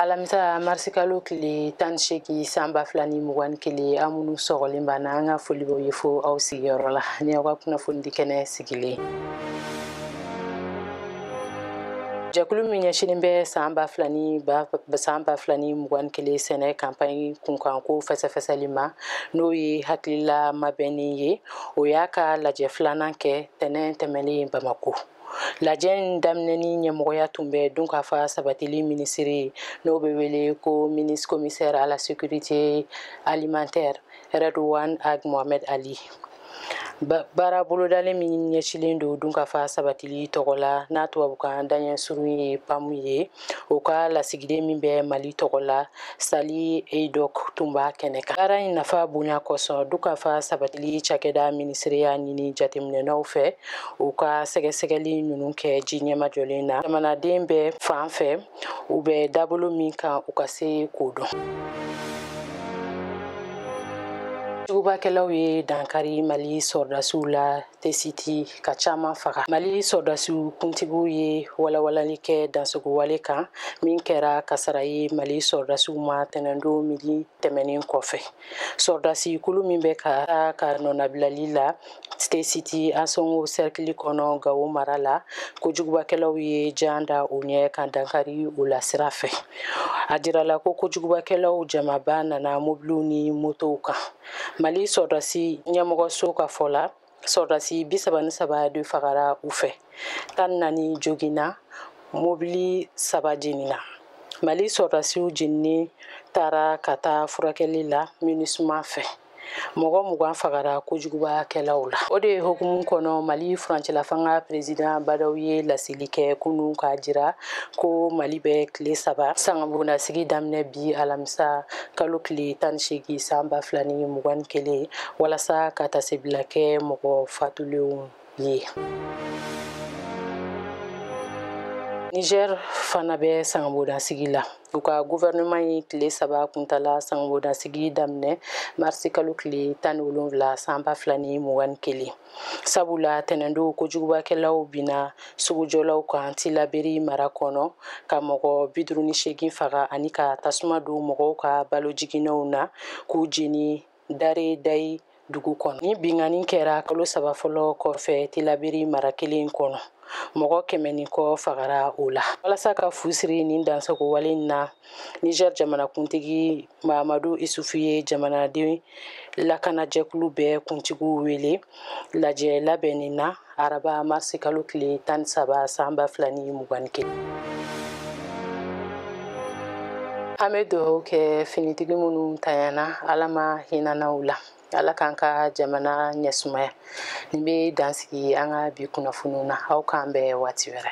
alamisa marisikalo tile tan ni seegin san ba fila ni mugan ni kelen aw minnu sɔgɔlen b'an na an ka foli b'aw ye fo aw sigiyɔrɔ la ni aw ka kunnafonidi kɛnɛ sigilen jɛkulu min ɲɛsinin bɛ san ba fila ni san ba fila ni mugan ni kelen sɛnɛ kanpaɲi kunkanko fɛsɛfɛsɛli ma n'o ye hakilila mabɛnni ye o y'a ka lajɛ filanan kɛ tɛnɛn tɛmɛnen bamako lajɛ in daminɛni ɲɛmɔgɔya tun bɛ dunkafa sabatili minisiri n'o bɛ wele ko minis commissaire à la sécurité alimentaire rɛdwan ag mohamɛd ali baara bolodalen min ɲɛsilen don dunkafa sabatili tɔgɔ la n'a tubabukan daɲɛ surun ye pamu ye o ka lasigiden min bɛ mali tɔgɔ la sally haydock tun b'a kɛnɛ kan baara in nafa bonya kosɔn dunkafa sabatili cakɛda minisiri y'a ɲini jateminɛnaw fɛ u ka sɛgɛsɛgɛli ninnu kɛ ji ɲɛmajɔlen na jamanaden bɛɛ fan fɛ u bɛ dabolo min kan u ka se k'o dɔn kojugubakɛlaw ye dankari Mali sɔrɔdasiw la tesiti ka caman faga mali sɔrɔdasiw kuntigiw ye walawalali kɛ dansagonwale kan min kɛra kasara ye mali sɔrɔdasiw ma tɛnɛndon midi tɛmɛnen kɔfɛ sɔrɔdasi kulu min bɛ ka taa ka nɔnabilali la tesiti ansɔngo sɛrikili kɔnɔ gawo mara la kojugubakɛlaw ye jan da u ɲɛ ka dankari u la sira fɛ a jirala ko kojugubakɛlaw jamaba nana mobiliw ni motow kan mali sɔrɔdasi ɲɛmɔgɔso ka fɔ la sɔrɔdasi bi saba ni saba de fagara u fɛ tan ni naani joginna mobili saba jenina mali sɔrɔdasiw jeninen taara ka taa furakɛli la minusma fɛ mɔgɔ mugan fagara kojugubakɛlaw la o de hukumu kɔnɔ mali furancɛlafanga perezidan ba ndaw ye laseli kɛ kunu k'a jira ko mali bɛ tile saba sangabondasigi daminɛ bi alamisa kalo tile tan ni seegin san ba fila ni mugan ni kelen walasa ka tasebila kɛ mɔgɔ fatulenw ye niger fana bɛ sangabondasigi la u ka guvɛrɛnɛman ye tile saba kuntala sangabondasigi daminɛ marisikalo tile tan ni wolonwula san ba fila ni mugan ni kelen sabula tɛnɛndon kojugubakɛlaw binna sugujɔlaw kan tilaberi mara kɔnɔ ka mɔgɔ bi duuru ni seegin faga ani ka tasuma don mɔgɔw ka balo jiginɛw na k'u jeni dare dayi dugu kɔnɔ nin binkanni kɛra kalo saba fɔlɔ kɔfɛ tilaberi mara kelen kɔnɔ mɔgɔ kɛmɛ ni kɔ fagara o la walasa ka fu siri nin dansagonwale na niger jamanakuntigi mamadu isufu ye jamanaden lakanajɛkulu bɛɛ kuntigiw wele lajɛ labɛnni na araba marisi kalo tile tan ni saba san ba fila ni mugan ni kelen an bɛ dugawu kɛ finitigi minnu tanyana ala ma hinana u la ala k'an ka jamana ɲɛsumaya nin bɛ dan sigi an ka bi kunnafoniw na aw k'an bɛn waati wɛrɛ